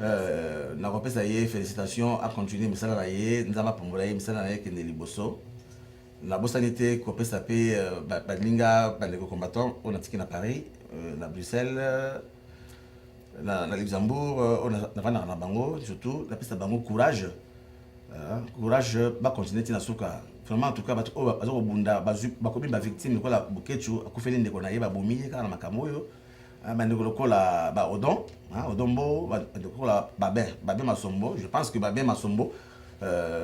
S2: euh, nakopesa ye félicitation acontinue misala na ye nzambe apambola ye misala na ye ekende liboso nabosani te kopesa mpe euh, baninga bandeko combattant oyo natiki na paris na bruxelles na, na Luxembourg euh, oyo navandaka na bango surtout napesa bango courage euh, courage bacontinue ti na suka vraiment en tout cas bato oyo baza kobunda bakomi bavictime lokola boketshu akufeli ndeko na ye babomi ye kaka na makambo oyo euh, bandeko lokola baodon odon mbo bandeko lokola babin babin masombo je pense que babin masombo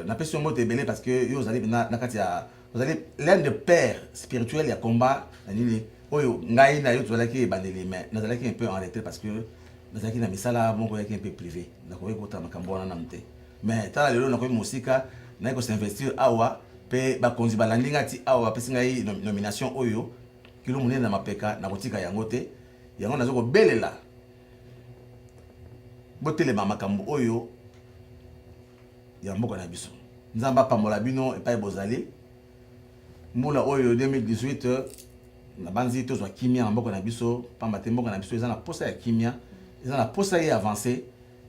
S2: napesi yo mbote ebele parce que yo ozali na kati ya Vous allez l'un des pères spirituels ya combat na nini oyo ngai na yo tozalaki ebandeli mais nazalaki un peu en retrait parce que nazalaki na misala moko yaki un peu privé nakoki kota makambo wana nanu te mais tala lelo nakoki mosika naye kosinvestir awa mpe bakonzi balandi ngai ti awa bapesi ngai nomination oyo kilo monene na mapeka nakotika yango te yango nazo kobelela botelema makambo oyo ya mboka na biso. Nzambe apambola bino epai bozali. Mbula oyo 2018 nabanzi tozwa kimia na mboka na biso, mpamba te mboka na biso eza na posa ya kimia, eza na posa ye avance.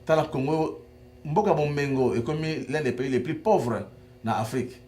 S2: Tala Congo, mboka Bomengo ekomi l'un des pays les plus pauvres na Afrique.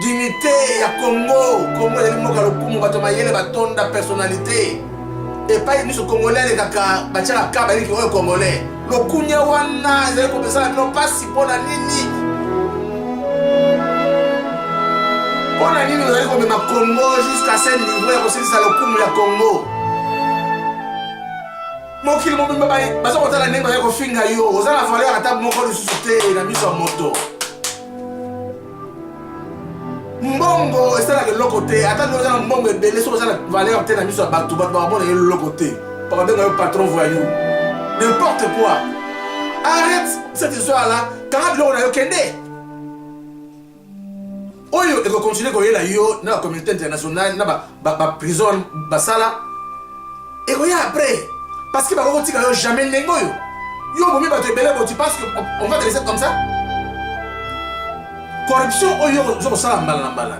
S2: Dignité ya Congo, Congo ezali mboka lokumu, bato mayele batonda personnalité. Epai miso Congolais alekaka batiaka ka baliki oyo Congolais. Lokunya wana ezali kopesana bino mpasi mpo na nini? Mpo na nini ozali komema Congo jusqu'à ce niveau ya kosilisa lokumu ya Congo? mokili mobimba baza kotala ndenge bazali kofinga yo oza na valeur ata moko lisusu te na miso ya moto mbongo esalaka eloko te ata nde oza na mbongo ebele soki oza na valeur te na miso ya bato bato bakomona ye eloko te bakabenga yo patron voyou n'importe quoi arrête cette histoire là kanga biloko na yo kende oyo ekokontinue koyela yo na bacommunauté internationale na ba ba ba prison basala ekoya après parce que bakoki kotika yo jamais ndenge oyo yo obomi bato ebele boti parce que on va te laisser comme ça corruption oyo oza kosala mbala na mbala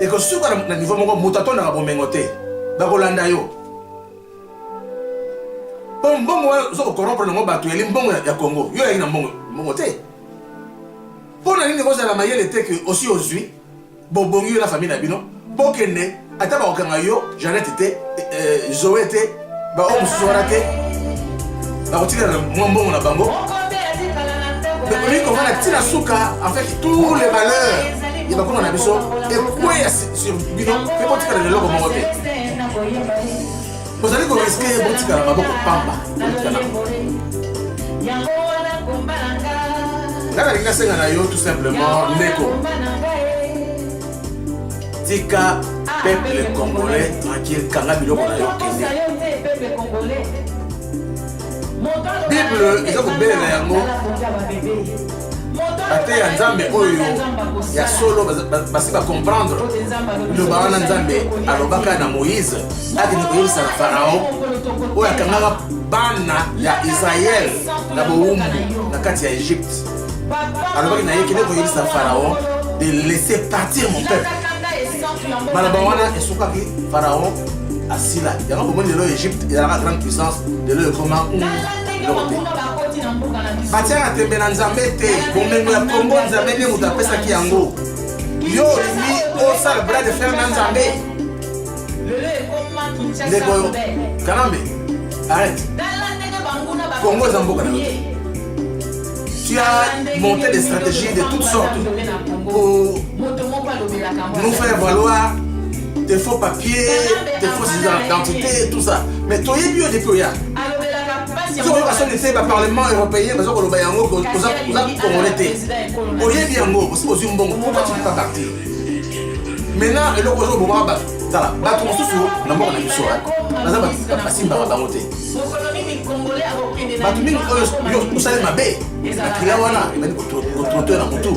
S2: ekosuka na niveau moko moto atondaka bomengo te bakolanda yo mpo mbongo wana oza kokorompre nango bato yali mbongo ya congo yo oyaki na mbongo mbongo te mpo na nini kozala mayele te ke osi ozwi Bobongi yo na famille na bino bokende ata bakokanga yo Jeannette te eh, Zoe te baoyo mosusu wana te bakotikala na mwa mbongo na bango okoki komona ntina suka en fait tous les malheurs ya bakoma na biso ekweya sur bino mpe botikala na eloko moko te ozali koriske ye botikala maboko pamba botikala nga nalingi nasenga na yo tout simplement ndeko tika peuple congolais tranquille kanga biloko na yo kende bible eza kobelela yango bateya nzambe oyo ya solo basi bacomprendre liloba wana nzambe alobaka na moïse akende koyebisa na farao oyo akangaka bana ya israel na bowumbu na kati ya egypte alobaki na ye kende koyebisa farao de laisser partir mon peuple maloba wana esukaki farao asila yango bomoni lelo egypte ezalaka grande puissance lelo ekoma batiaka tembe na nzambe te bomengo ya kongo nzambe nde moto apesaki yango yo olingi osala bras de fer na nzambe ndeko kanambe arrête kongo eza mboka na yo tu as monté des stratégies de toutes sortes pour nous faire valoir des faux papiers, des fausses identités, tout ça. Mais toi, il y a des pays. sokoyoka soki te baparlement européen baza koloba yango oza kongole te oyebi yango osi ozwi mbongo pourkoi tu pas partir maintenant eloko ozo obomaka bato tala bato mosusu na mboka na biso baza basimbaka bango te bato mingi oyo osali mabe makila wana ebandi kotrotoe na motu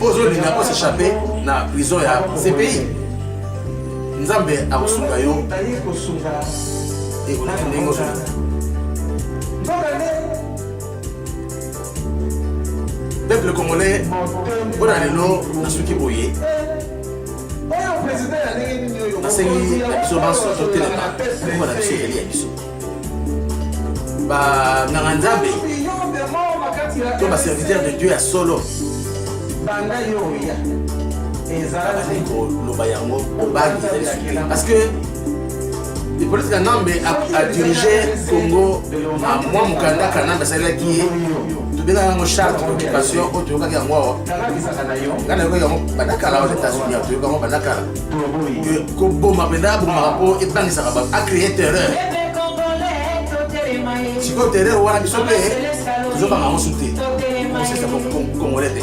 S2: ozolinga ko s'échapper na prison ya CPI nzambe akosunga yo ekoleki ndenge ozolinga peuple congolais mpo na lelo nasuki boye nasengi na biso banso totelema mpo na biso eleli ya biso banganga nzambe to baserviteur de dieu ya solo banda yo oya ezalaki koloba yango obangi ezali suki parce que hippolyte kanambe adirige congo na mwa mokanda kanambe asalelaki ye tobengaka yango charte d'occupation oyo toyokaki yango awa ngai nayoki yango bandakala aux états-unis toyoki yango bandakala koboma mpenza abomaka mpo ebangisaka bato acree terreur sikoyo terreur wana biso mpe tozobanga mosu te kosesa kongole te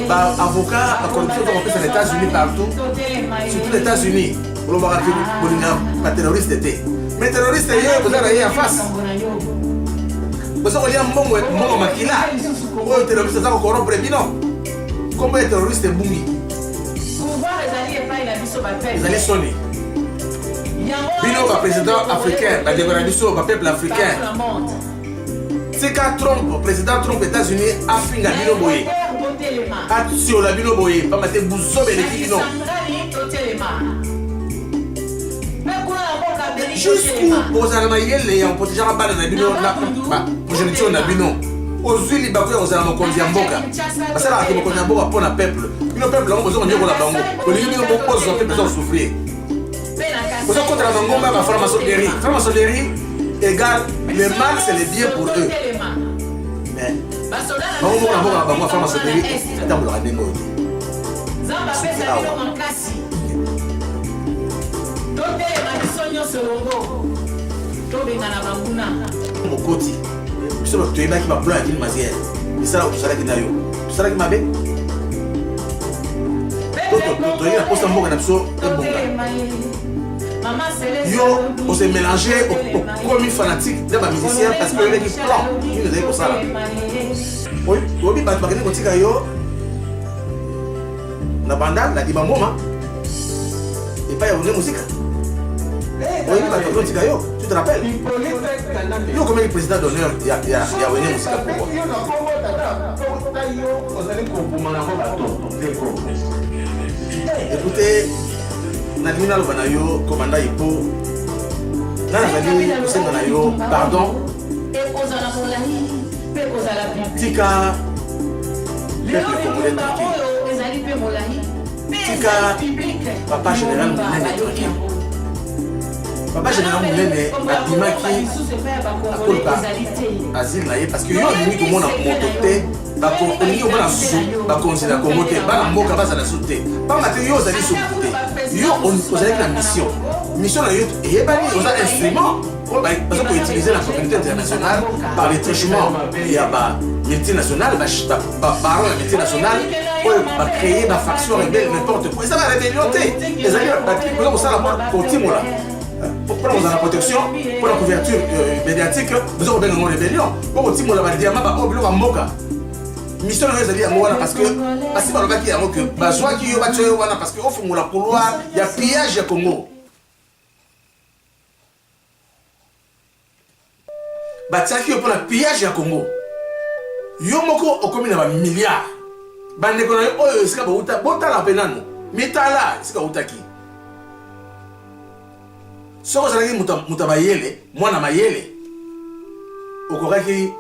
S2: baavocat bacorruption tokopesa na états-unis partout surtout na états-unis olobaka te bolinga baterroriste te mais terroriste ye boza na ye ya face boza kolia mbongo makila oyo terroriste aza kokorompre bino Kombo ya terroriste ebungi. Pouvoir ezali epai na biso ba peuple. Ezali soni. Bino ba président africain, ba ndeko na biso ba peuple africain. Tika Trump, président Trump États-Unis afinga bino boye. Atiola bino boye, pamba te buzobe eleki bino. jusqu'où bozala na mayele ya koprotejaka bana na bino na progeniture na bino ozwi libaku ya kozala mokonzi ya mboka basalaka te mokonzi ya mboka mpo na peuple bino peuple yango boza konyekola bango olingi bino bozwa mpe boza kosouffrir boza kotala mangomba ya baframasonerie framasonerie égale le mal c'est le bien pour eux mais bango moko na mboka na bango ya framasonerie atambolaka ndenge oyo mokoti biso bato toyebaki baplan ya kilmasiere misala tosalaki na yo tosalaki mabe toyei na mposa mboka na biso ebonga yo ose mélange okomi fanatique na bamusicien parce que oyebaki plan nini ozali kosala oyebi bato bakende kotika yo na banda na bima moma epai ya bonde mosika oyebi bato azotika yo tu te rappelle yo okomaki président d'honneur ya wene mosika pourquoi écoute nalingi naloba na yo komanda ipo nga nazali kosenga na yo pardon Mpe kozala piblik. Tika peuple congolais tranquille. oyo ezali mpe molai mpe Tika ezali piblik. papa général monene tranquille. Papa général monene abimaki akolka asile na ye parce que yo olingi komona moto te bako- olingi komona su bakonzi na kongo te bana mboka bazala su te mpamba te yo ozali suku te yo o- ozalaki na mission mission na yo eyebani oza instrument baza koutilize na communauté internationale par le trichement ya ba multinationale baparent ya multinationale oyo bacreye na faction rebelle n'importe quoi eza na rébellion te ezali oza kosala kotimola mpona kozala protection mpona couverture euh, médiatique boza kobenga yango rébellion mpo kotimola badiama baoyo biloko ya mboka mission na yo ezali yango wana parce que basi balobaki yango ke bazwaki yo batya yo wana parce que ofungola couloir ya pillage ya congo batiaki yo mpo na pillage ya congo yo moko okomi na bamilliard bandeko na yo oyo esika bauta botala mpe nano mitala esika autaki soki ozalaki moto mayele mwana mayele okokaki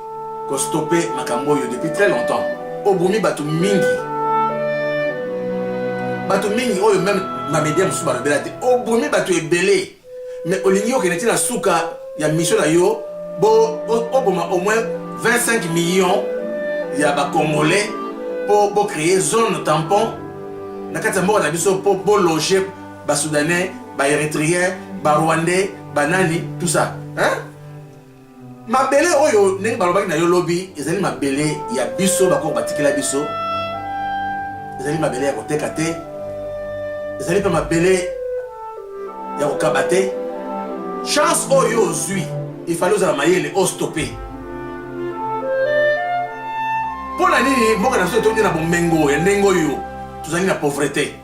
S2: kostope makambo oyo depuis très longtemps obomi bato mingi bato mingi oyo meme bamedia mosusu balobela te obomi bato ebele Mais olingi okende ti na suka ya mission na yo bo oboma au moins 25 millions ya ba congolais po bo créer zone tampon na kati ya mboka na biso po bo loger ba soudanais ba erythréens ba rwandais ba nani tout ça hein Mabele oyo ndenge balobaki na yo lobi ezali mabele ya biso bakoko batikela biso, ezali mabele ya koteka te, ezali mpe mabele ya kokaba te. Chance oyo ozwi ifali ozala mayele ostope. Mpo na nini mboka na biso etondi na bomengo ya ndenge oyo tozali na pauvrete?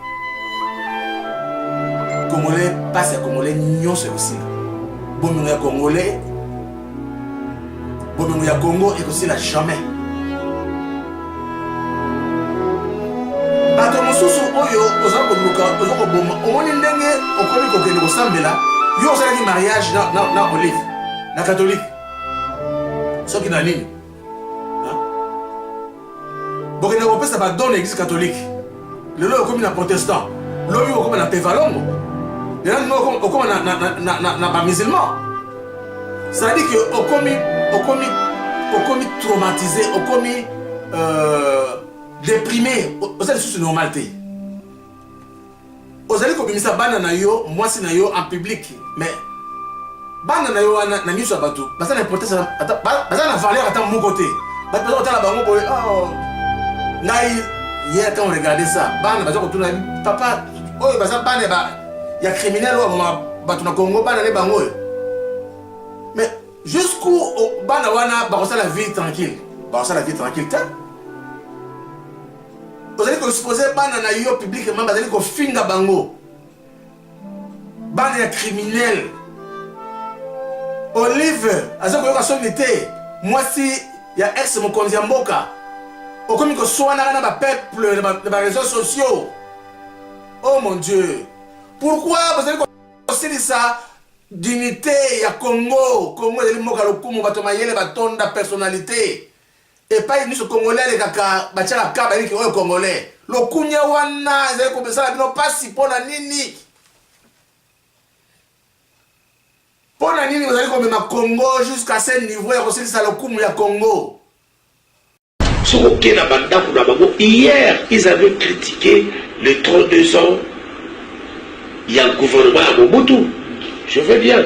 S2: congolais mpasi ya congolais nyonso ekosila bomengo ya congolais bomengo ya congo ekosila jamais bato mosusu oyo oza koluka oza koboma omoni ndenge okomi kokende kosambela yo osalaki mariage na, na, na olive na katolike soki na nini bokende kopesa badon na eglise catholique lelo okomi na protestant lobi okoma na tevalongo lelo okoma na bamusulman cetadi ke okomi okomi okomi traumatise okomi euh, deprime oza lisusu normal te Ozali kobimisa bana na yo, mwasi na yo en public, mais bana na yo wana na miso ya bato baza na importance ata baza na valeur ata moko te. Bato baza kotala bango boye, oh ngai hier quand on regardait ça, bana baza kotuna papa oyo baza bana ba ya criminel oyo ma bato na Congo bana ne bango oyo. Mais jusqu'où oh, bana wana bakosala vie tranquille, bakosala vie tranquille te. ozali koexpose bana na yo publiquement bazali kofinga bango bana ya criminel olive aza koyoka soni te mwasi ya ex mokonzi ya mboka okomi koswanaka na bapeuple na bareseau sociaux oh mon dieu pourkui bozali kosilisa dignité ya congo congo ezali mboka lokumu bato mayele batonda personnalité Epayi nionso congolais alekaka batiaka ka bayebi ke oyo congolais. Lokunia wana ezali kobesala bino pasi mpo na nini? mpo na nini bozali komema congo jusqu'à ce niveau ya kosilisa lokumu ya congo soki oke na
S3: bandako na bango hier ils avaient critiqué les 32 ans ya gouvernement ya mobutu je veux bien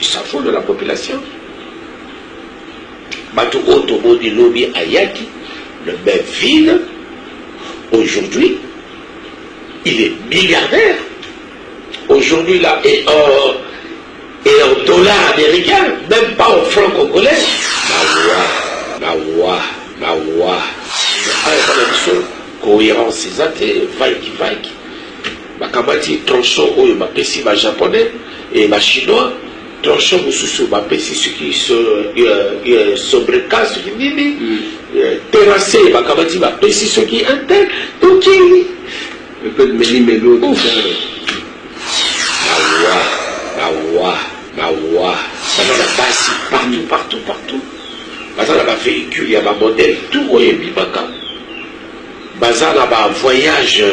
S3: Chapeau de la population batu oyo toboni lobi ayaki le même ville aujourd'hui il est milliardaire aujourd'hui là et en, et en dollars américains même pas en francs congolais mawa mawa mawa aya bana biso cohérence eza te vaiki vaiki Bakamati tronçon oyo bapesi ba japonais et ba chinois, tronçon mosusu bapesi soki sobreka soki nini, terrasse bakamati bapesi soki un tel, tokei. Mpe meli meli oyo tozali. Mawa, mawa, mawa. Baza na basi partout, partout, partout. Baza na ba vehicules ya ba modèles tout oyo ebimaka. Baza na ba voyage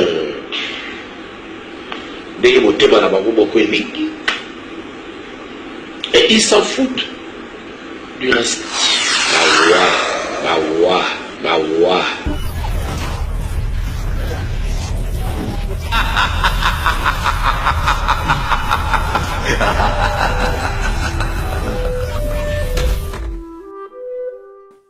S3: ndenge motema na bango moko elingi et ils s'en foutent du reste. Mawa, mawa, mawa.